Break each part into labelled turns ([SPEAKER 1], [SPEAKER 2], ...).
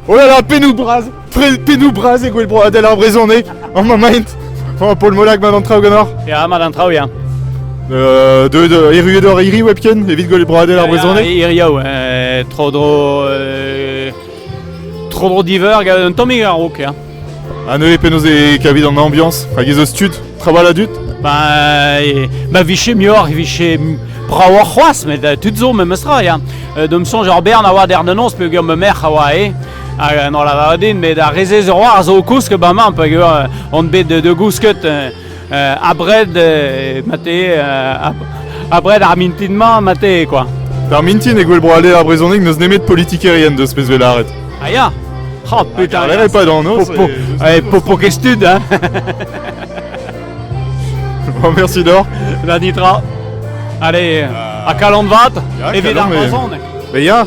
[SPEAKER 1] Oh là là, pennoù bras Tre- Pennoù bras e gwel broadel ar brezhoneg An mamaint Oh, Paul Molag, mat an traoù ganeoc'h Ya, mat an traoù, ya. euh,
[SPEAKER 2] Deuet euh, erruet
[SPEAKER 1] hor hiri webken evit gwel broadel ar brezhoneg Irioù, eh,
[SPEAKER 2] tro-dro... euh, tro-dro diveur, gant un tammig a-raok, ya. Ha neuze penaos
[SPEAKER 1] e kavit an ambiañs Hag ez eus tud Trawal a dud Bah,
[SPEAKER 2] ma vije muioc'h, e vije bravoc'h c'hoazh, met euh, tud zo memes tra, ya. Euh, D'am soñj ur bern a oa der da noz peogwir ma merc'h a oa eo. Hag euh, n'en lavaret din, met ar re-se zo war zo kousk ba mañ peogwir euh, on bet de, de gousket euh, abred mate abred ar mintin-mañ mate quoi. D'ar mintin e gwell
[SPEAKER 1] bro aller ar brezhoneg n'eus nemet politikerien deus pezh vez lâret. Ah ya.
[SPEAKER 2] Oh putain. Lâret pas dans nos. Popo,
[SPEAKER 1] eh, popo
[SPEAKER 2] kestud hein.
[SPEAKER 1] bon, merci Dor. Da nitra.
[SPEAKER 2] Allez, à Kalan Vat, evit ar brezhoneg. Mais ya,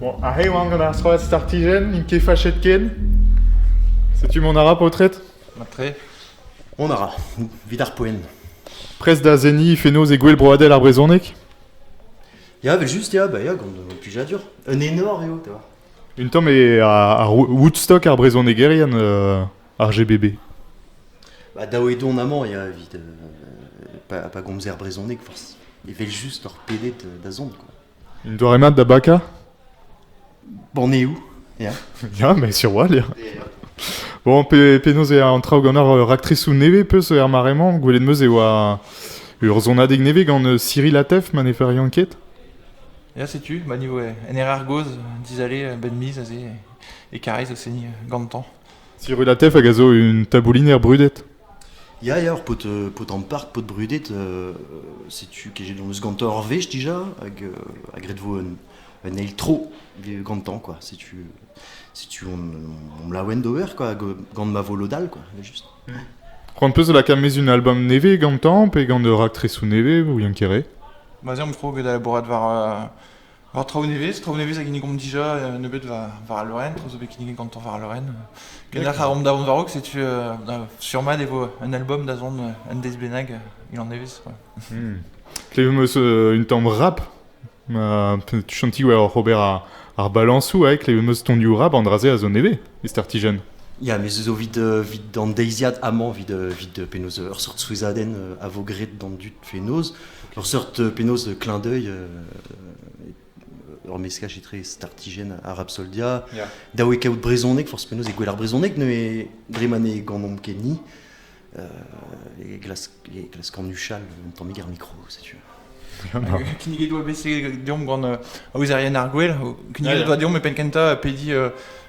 [SPEAKER 1] Bon, arre e oan gant ar strollad Startigen, n'int ket fachet ken. Setu mon ara paotred. Matre.
[SPEAKER 3] On ara,
[SPEAKER 4] vid ar poen. Prest da
[SPEAKER 1] zenni fenoz e gouel broadel ar brezhoneg
[SPEAKER 4] Ya, vel just, ya, ba ya, gant un plijadur. Un enor eo, ta. Un tamm e
[SPEAKER 1] ar, ar Woodstock, ar brezhonegerien euh, ar GBB. Bah,
[SPEAKER 4] dav eo dont amañ, ya, evit pas, pas gomzer brezhoneg, forcément. Evel-just hor pedet da zont, quoi. Une doare mat da
[SPEAKER 1] baka
[SPEAKER 4] Bon, on est où Yeah. Ya, mais sur
[SPEAKER 1] Wall, ya. Bon, pe, penaos eo an traoù gant ar raktrisoù nevez peus er mare-mañ, gwelet meus e oa urzhonadeg nevez gant euh, Cyril Atef, ma ne fer ket ket. Ya, setu,
[SPEAKER 3] ma niveau euh, NRR Goz, dizale, euh, ben mise aze, et carrez au seni gantan. Cirulatef
[SPEAKER 1] hag a zo un tabouliner brudet. Ya, ya, ur
[SPEAKER 4] paotr, euh, paotr ampart, paotr brudet, euh, setu que j'ai eus gantañ ur wech dija, hag, euh, hag ret vo un, un eil tro gantañ, quoi. Setu, setu on, on me la ouenn d'ober, quoi, hag gant ma volo dal, quoi, juste. C'hoant peus
[SPEAKER 1] da lakaat mezh un album nevez gantañ, pe gant ur raktrezou nevez, ou Yann Kere Bah, j'aime trop que
[SPEAKER 3] d'aller boire war euh, War traoù nevez, traoù nevez a ginnigomp dija, euh, nebeut war, war al loen, traoù zo bet kinniget gantañ war al loen. Kendalc'h a romp da vont war-raok, setu euh, da- sur-mat e vo un album da zont euh, un deiz bennak, euh, il en nevez. quoi. Klevemp
[SPEAKER 1] euh, un tamm rap. Euh, tu chanti ouais, Robert ar, ar balansou, ouais, klevemp ton diou rap an dra-se a zo nevez, e startijen. Ja, me zo vit,
[SPEAKER 4] euh, vit d'an deiziad amañ, vit, euh, vit euh, penaos ur seurt souezhadenn euh, a vo graet d'an dud fenoz. Ur seurt penaos clin d'œil, ur meskaj etre startijenn ha Rapsoldia, yeah. da oe kaout brezhoneg, forzh penaos, e gwell ar brezhoneg, neuze dre ma ne ganomp ket ni, euh, e glask, e glask anuchal un tammig ar mikro, setu.
[SPEAKER 3] Kinniget doa bet deomp gant euh, Aouzarien ar Gwell. Kinniget doa deomp e penn kentañ pediñ euh,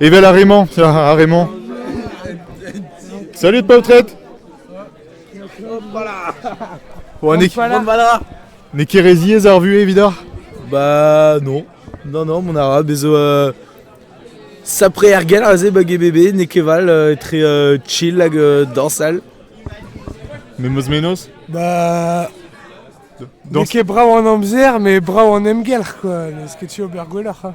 [SPEAKER 1] Evel ar re-mañ, ar re-mañ. Salut poltred N'ez N'es ket re ziez ar vue évidoc'h Bah
[SPEAKER 5] non. Non, non, mon arabe, bezo euh, sapre er gell aze bag e bébé, n'es ket val euh, etre euh, chill hag euh, dansal.
[SPEAKER 1] Mais meus menos Bah... Donc... N'es ket brav en
[SPEAKER 6] amzer, mais brav en emgelc'h, quoi. N'es ket tu ober gwelloc'h, hein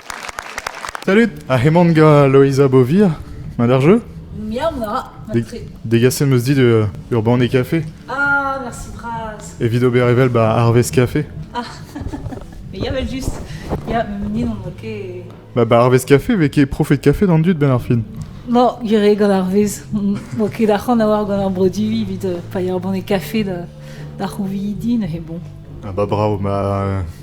[SPEAKER 1] Salut Ha heman ga Loeiza Bovir Ma d'ar jeu Miam da Deg-
[SPEAKER 7] Degaset 'm
[SPEAKER 1] eus dit euh, ur banne café Ah, merci
[SPEAKER 7] bras evit ober evel ba
[SPEAKER 1] Arvest Café.
[SPEAKER 7] Ah, mais il y avait juste Il y a ni n'en a que Ba ba Arvest Café
[SPEAKER 1] vez ket profet café d'an dud ben ar fin. Bon, gire
[SPEAKER 7] gant ar vez Bo ket ac'han a war gant ar brodu evit euh, paeañ ar banne café da da c'houviidi
[SPEAKER 1] neuze
[SPEAKER 7] bon Ah bah bravo, ma euh,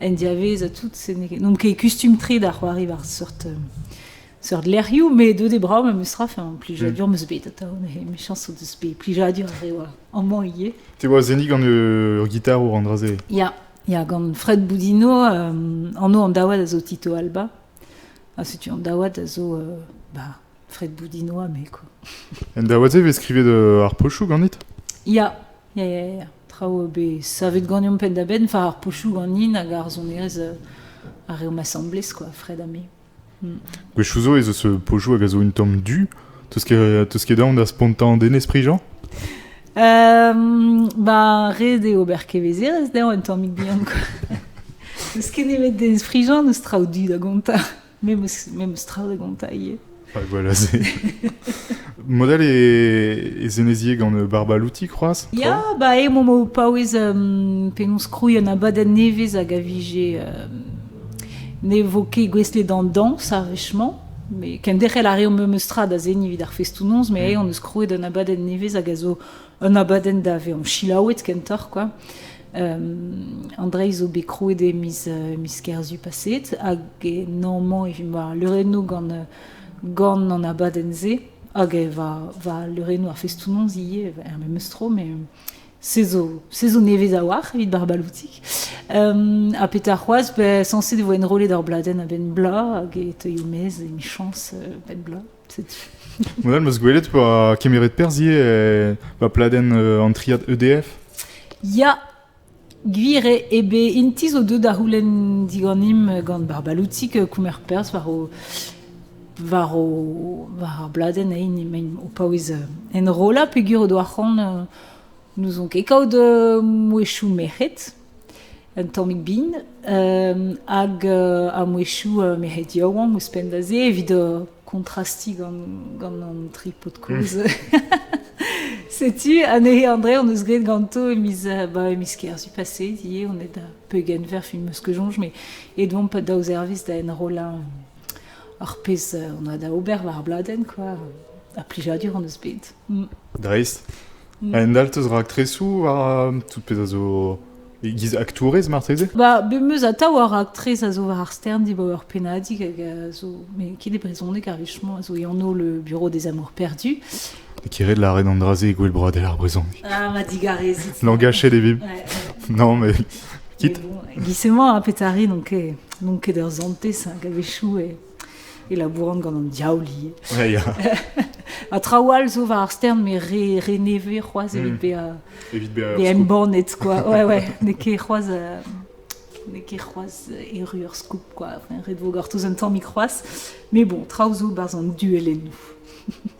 [SPEAKER 7] en diavez ha tout. N'on ket kustum-tre da c'hoari war seurt, euh, seurt lec'hioù, met deuet e brav ma meus ra, enfin, plijadur mm. meus bet atav, michañs o deus bet plijadur ar re amañ ivez. Te oa zennig gant
[SPEAKER 1] ur gitar o randraze? Ya, ya, gant
[SPEAKER 7] Fred Boudino, euh, anv an daouad a zo Tito Alba. Ha setu an daouad a zo euh, bah, Fred Boudinoa, mais quoi. En daouad-se
[SPEAKER 1] vez skrivet ar pochou ganit Ya,
[SPEAKER 7] Ya, ya, ya. Traoù bet savet ganeomp penn-da-benn, enfin ar pochoù ganin hag ar sonerezh uh, ar reomp asambles, quoi, Fred ha me. Mm. Gwechoù
[SPEAKER 1] zo ez eus euh, pochoù hag a zo un tamm du. Teus ket, teus ket aon da spontañ den esprit, Jean um,
[SPEAKER 7] Ba, red eo ober kevezerezh dezhañ un tammig bihan, quoi. N'eus ket nemet den esprit, Jean, n'eus traoù du da gontañ. Me meus tra da gontañ ivez. Hag voilà, c'est...
[SPEAKER 1] Modèle e, e zenezier gant Barbalouti, croaz Ya, ba eo momo
[SPEAKER 7] paouez um, penaos krouiñ un abadenn nevez hag a vije... Um, ne vo ket gouestlet d'an dañs, ar wech-mañ. Mais kenderc'hel a reomp memes tra da seniñ evit ar festounoz, mais mm. on eus krouet un abadenn nevez hag a zo Un abadenn da vezañ selaouet kentoc'h kwa. an dreizh zo bet krouet e miz miz Kerzu paset hag normalement evit ma leurennoù gant gant an abadenn-se hag e va va leurennoù ar festoù-noz ivez er memes tro met se zo se zo nevez a-walc'h evit Barbaloutik ha petra c'hoazh sañset e vo enrollet ur bladenn a-benn bloaz hag e teuio maez emichañs 'benn bloaz. Modal, 'meus
[SPEAKER 1] gwelet pa kemeret perzh ivez ba pladenn an triad EDF. Ya,
[SPEAKER 7] gwir eo. E be int zo deuet da c'houlenn diganimp gant Barbaloutik kounner perzh war o war o war ar bladenn emaint o paouez enrollañ peogwir o doa c'hoant n'ouzon ket kaout mouezhioù merc'hed. Un tammig bin hag a-mwechoù merc'hed yaouank ouzhpenn da se evit kontrastiñ gant an tri paotr kozh. Setu anezhe André hon eus graet ganto e miz ba e miz Kerzu paseet ivez on est da peugeent verf me meus ket soñj met et oamp daou servij da enrollañ ar pezh on a da ober war ar bladenn quoi ha plijadur hon eus bet. Dreist.
[SPEAKER 1] Un all 'teus raktresoù war tout pezh a zo e-giz aktourez marteze? Ba bemeus atav
[SPEAKER 7] ur raktres a zo war ar stern dibaoe ur pennadig hag a zo met ket e brezhoneg ar wech-mañ a zo e anv le Bureau des Amours Perdus. E kit ret
[SPEAKER 1] lâret an dra-se e gouelbroadel ar brezhoneg. Ah ma digarezit.
[SPEAKER 7] Langajet e vimp. Ouais.
[SPEAKER 1] Non
[SPEAKER 7] mais
[SPEAKER 1] quitte. Mais bon, giz emañ a
[SPEAKER 7] petare n'on ket n'on ket ur santez hag a-wechoù e e labouran gant an diaoul ivez. Ja, ya.
[SPEAKER 1] ha traoù
[SPEAKER 7] all zo war ar stern, mais re, re nevez c'hoazh evit hmm. bezañ evit bezañ
[SPEAKER 1] embannet quoi.
[SPEAKER 7] Ouais, ouais. N'eo ket c'hoazh euh, n'eo ket c'hoazh erru ur scoop quoi. Ret vo gortoz un tammig c'hoazh. Mais bon, traoù zo barzh an duellennoù.